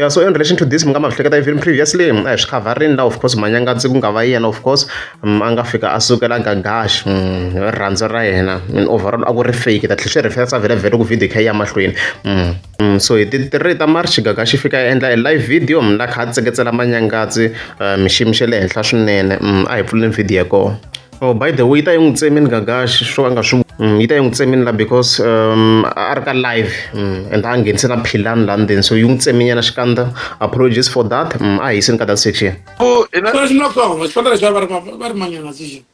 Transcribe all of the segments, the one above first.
ya so in relation to this mi nga ma hleketa even previously a hi swi khavharini la of course manyangadzi ku nga va yena of course mm, a nga fika a sukela gagash mm, rhandza ra yena and overall a ku ri fake ta tlhe swi referensa vhele vhele ku video kha ya mahlweni mm, so hi ti three ta march gagash yi fika ya endla e live video la kha a tseketsela manyangadzi eh, miximi xa le henhla swinene a hi pfuleni video ya kona Oh, by the way yi ta yi n'wi tsemini gagaxi swo a nga swi mm, yi ta yi n'wi tsemini la because um, a ri ka live mm, and a nghenise na philani la ndzeni so yi n'wi tseminyana xikandza apologies for that mm, a hi yisini ka that section Oh, ina Sweswi no koma xipata lexi va ri va- va ri manyana sixi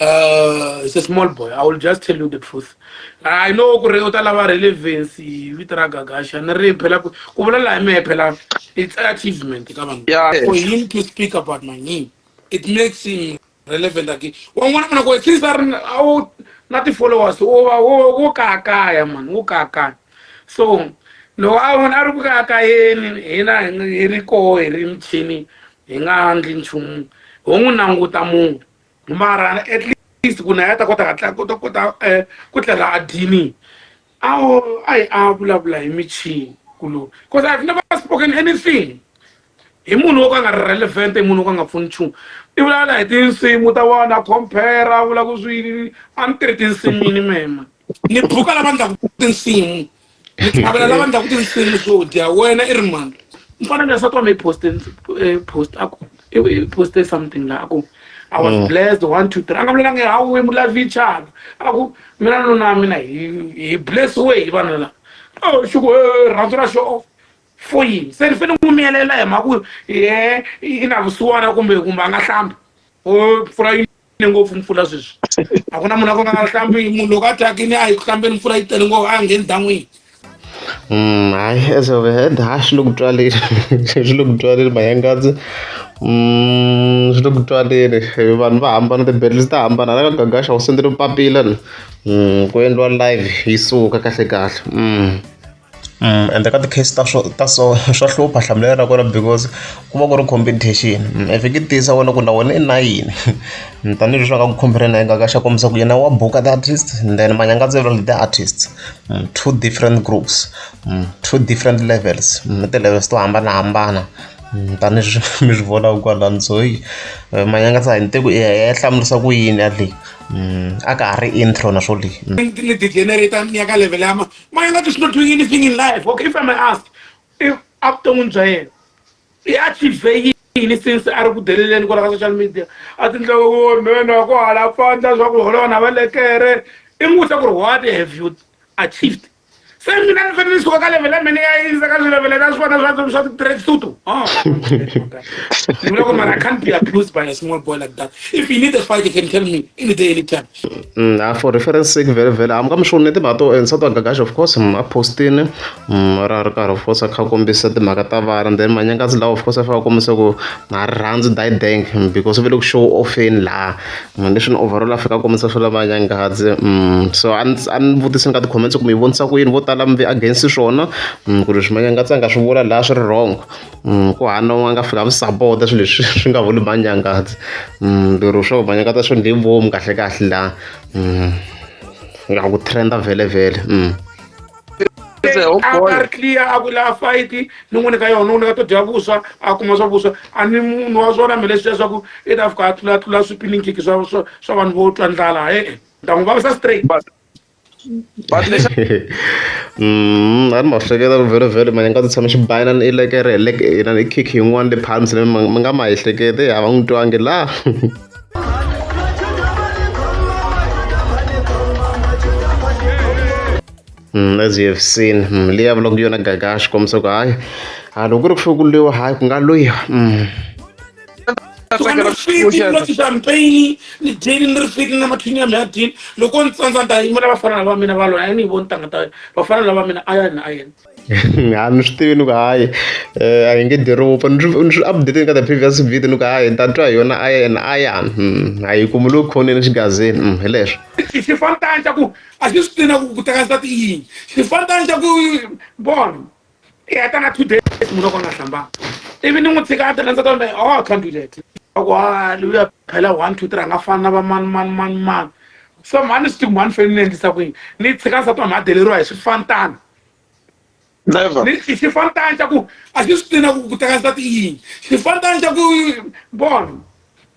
Uh, it's a small boy. I will just tell you the truth. I know ku ri u ta lava relevance hi vito ra Gagasha ni ri phela ku ku vula laha mi phela it's achievement ka vanhu. Yeah. For him to speak about my name. it makes him relevant again wan'wana muna ku since a ri na ti-followers wo va wo kayakaya mani wo kayakaya so loko a vona a ri ku kayakayeni hina hi ri koho hi ri michini hi nga ndli nchumu ho n'wi languta munhu mara at least ku na ya ta kota hatla kota kota um ku tlela a dyini Awu ayi avulavula hi michini kuloni because I've never spoken anything hi munhu wo ka nga relevant hi munhu wo ka nga pfuni nchumu i vulavula hi tinsimu ta vona compare a vula ku swini a ni tirhi tinsimini mema ni buka lava ndlaku tinsimu ni tlhavela lava ndlaku tinsimu swo dya wena i ri mani ni fanele ni swa twa mi post eh, post a ku I i poste something la ku I was mm. blessed one two three a nga vulanga ha we mulavichana a ku mina nuna wa mina hi hi bless we hi vanhu la oh shuku eh, rhandzu ra show off for yini se ni fanele n'wi miyelela hi mhaka ku ye i na vusiwana kumbe kumbe a nga hlambi o oh, pfula yini ne ngopfu mpfula sweswi a ku na munhu a ku nga hlambi munhu loko a thyakini a yi ku hlambeni mpfula yi tele ngopfu a ngheni ndan'wini Mm, hayi as of hand hayi swi le ku twaleni swi le ku twaleni mayangadzi mm, swi le ku twaleni vanhu va hambana ti-batteries ta hambana la ka gagasha u sendele papila ni mm, ku endliwa live yi suka kahle kahle mm. ende ka ti-case ta so ta so swa hlupha hlamulelo ra kona because ku va ku ri competition if ku tiyisa wena ku na wena i na yini tanihileswi va nga ku khumbela na nga ka xa kombisa ku yena wa buka the artist then manyanga ndzi vula the artist two different groups two different levels na ti-levels to hambanahambana tanihileswi mi swi vonaka kwalani so hi manyanga sa hi ni te ku ya ya hlamurisa ku yini ya leyi a ka ha ri intro na swo leyi ni ti-generator ni ya ka level ya My life is not doing anything in life. Okay, if I may ask, if after Unjael, he achieved yini since a ri ku deleleni kwala ka social media a tindlaka ku mhena ku hala fanda swa ku holowa na valekere i n'wi vutisa ku ri what have you achieved se mina ni fanele ni suka ka level ya mina ya yisa ka swilevele ta swona swa swa ti-track suit oh. ni vula ku mara i can't be abused by a small boy like that if you need a fight you can tell me any day any time na for reference sake vhele vhele hamu ka mi swi voni timhaka to and southern gagash of course a postini ra ri karhi of course a kha a kombisa timhaka ta vana then manyangazi lawa of course a fika a kombisa ku na ri rhandzi didang because ve le ku show offeni laha leswi ni overall a fika a kombisa swa la manyangazi so a ni a ni vutisa ni ka ti-comments ku mi vonisa ku yini vo tala mi ve against swona ku ri swi manyangazi a nga swi vula laha swi ri wrong. Mm, ku hana wa nga fika mi sapota swilo leswi swi nga vuli manyangazi mm, lero swo manyangaza swo ndle vomu kahle kahle la mm, nga ku trenda vhele vhele mm. Oh akari clear a ku laha fight ni n'wi nyika yona n'wi nyika to dya vuswa a kuma swa vuswa a ni munhu wa swona mi leswi leswaku i ta fika a tlulatlula swipininkiki swa swa vanhu vo twa ndlala e-e ni ta n'wi vavisa straight Mm, a ni ma hleketa vhele vhele mane nga tshama xi bayana ni elekere hi leke yena ni kick yin'wana le phansi leyi mi nga ma ehlekete a va n'wi twangi la Mm, as you have seen mm, leyi a vulaka yona gagashi kombisa ku hayi a loko ku ri ku fikuliwa hayi ku nga loyiwa mm. loko champagne ni dyini ni ri fiti na mathini ya mi ya dyini loko ni tsandza ni ta yimela vafana lava mina va lona a ni yi voni tanga ta vafana lava mina a ya ni a yena ha mi swi tivi ni ku hayi um a hi nge diropa ni swi update ka the previous video ni ku hayi ni ta twa hi yona a ya ni a ya hmm, a yi kumi lowu khoneni xigazini hmm, hi leswo xi fanitani xa ku a xi swi tina ku ku teka nsati yini xi fanitani xa ku bona i heta na two days munhu loko a nga hlambanga ivi ni n'wi tshika a tena ndza ta vona oh can't do that loko a luya phela one two three a nga fani na va mani mani mani mani so mhani swi tiku mhani feni ni endlisa ku yini ni tshika nsati wa mhadeleriwa hi swifantana xifantana xa ku a xi swi tina ku ku teka nsati i yini xifantana xa ku bona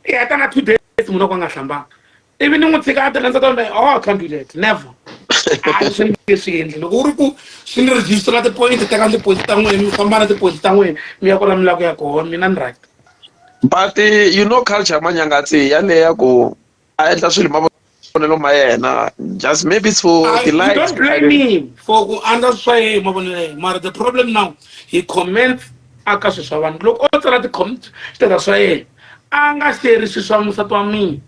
i heta na two days munhu loko a nga hlambanga ivi ni n'wi tshika a tirha ndza ta vona oh I can't do that never a swi nge swi endli loko u ri ku swi ni register na tipoyinti teka ndzi poyinti ta n'wina mi famba na tipoyinti ta n'wina mi ya kona mi lava ku ya kona mina ni right but eh, you know culture ya manyangatsi yaleya ku a endla swilo mavonelo ma yena just maybe it's for I, the light don't blame me for ku andza swa yehe mavonelo ya mara the problem now he comments aka swi swa vanhu loko o tsala ti-comment status swa yena a nga xerisi swa musati wa mina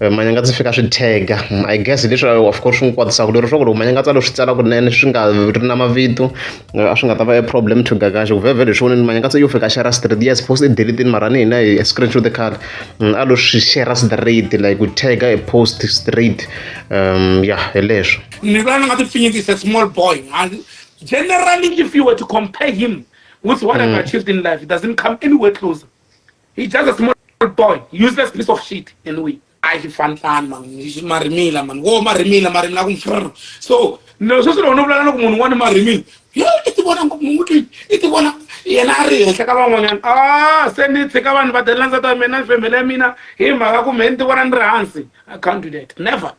Eh, manyanga ndzi fika swi tag-a mm, i guess leswi eh, of course swi n'wi kwatisaka lero swa ku loko manyanga tsalo swi tsala kunene swi nga ri na mavito eh, a swi nga ta va e problem to gagaxa ku vhevhe leswi voneni manyanga tse yo fika share straight yes post i delitini mara ni hina hi screenshot the card mm, a lo swi share straight like ku tag-a e post straight um ya hi leswo ni vona ni nga ti pfinyikisa small boy generally if you were to compare him with what mm. i've achieved in life it doesn't come anywhere closer He just a small boy, useless piece of shit and we. I should fan plan man, marimila man, wo marimila marimila kumfrr. So, no so so no no no kumuntu wani marimila. Yo itibona ngomuntu itibona yena a ri henhla ka van'wanyana a se ni tshika vanhu va delela ndzata wa mina ni family ya mina hi mhaka ku mhe ni ti vona ni ri hansi i can't do that never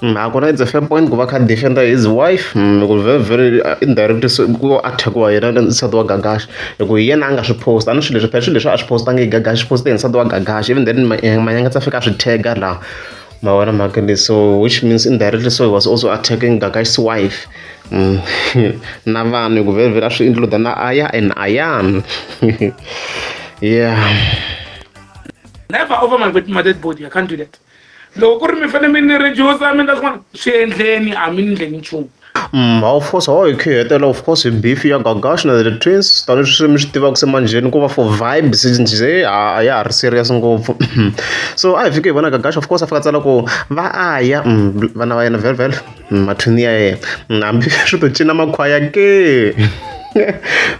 Mm, hakona it's a fair point ku va kha defender his wife mm, ku very very uh, indirect ku attackiwa yena nsati wa gagashi hi ku hi yena a nga swi post a ni swilo leswi phela swilo leswi a swi postangi hi gagashi poste hi nsati wa gagashi even then eh, manyanga tsa fika a swi tega laha ma vona mhaka leyi so which means indirectly so he was also attacking gagash's wife mm, na vanhu hi ku very very a swi include na aya and ayan yeah Never over my, my dead body. I can't do that. loko ku ri mi fanele mi ni rejusa mi endla swin'wana swi endleni a mi ni ndleni nchumu Mm, of course how hi khihetela of course beef ya gagash na the twins tani swi mi swi tivaka se manjheni ku va for vibe sinje a ya ha ri serious ngopfu so a hi fike hi vona gagash of course a fika tsala ku va aya mm, vana va yena velvel mathini ya yena hambi swi to cina makhwaya ke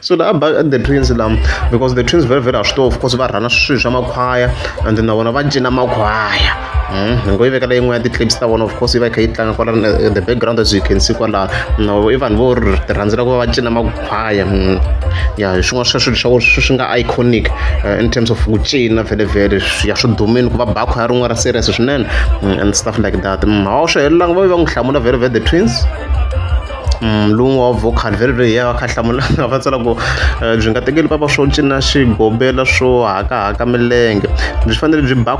so la ba the twins lam because the twins very very a swi to of course va rhana swilo swa makhwaya and na vona va cina makhwaya hmm, hi ngo yi vekela yin'we ya ti-clips ta vona of course yi va yi kha yi tlanga kwala eh, the background as you can see kwalano no i vanhu vo ti rhandzela ku va va cina fire mm. ya hi swin'wana sweswo leswaku swi swi nga iconic uh, in terms of ku cina vele vele ya swi dumini ku va bakho ya rin'wana ra serious swinene mm, and stuff like that mm, hawa swi helelanga va ve va n'wi hlamula vele vele the twins mlungu wa vocal vele vele ya kha hlamula nga va tsala ku eh, byi nga tekeli papa swo cina xigobela swo hakahaka milenge byi fanele byi ba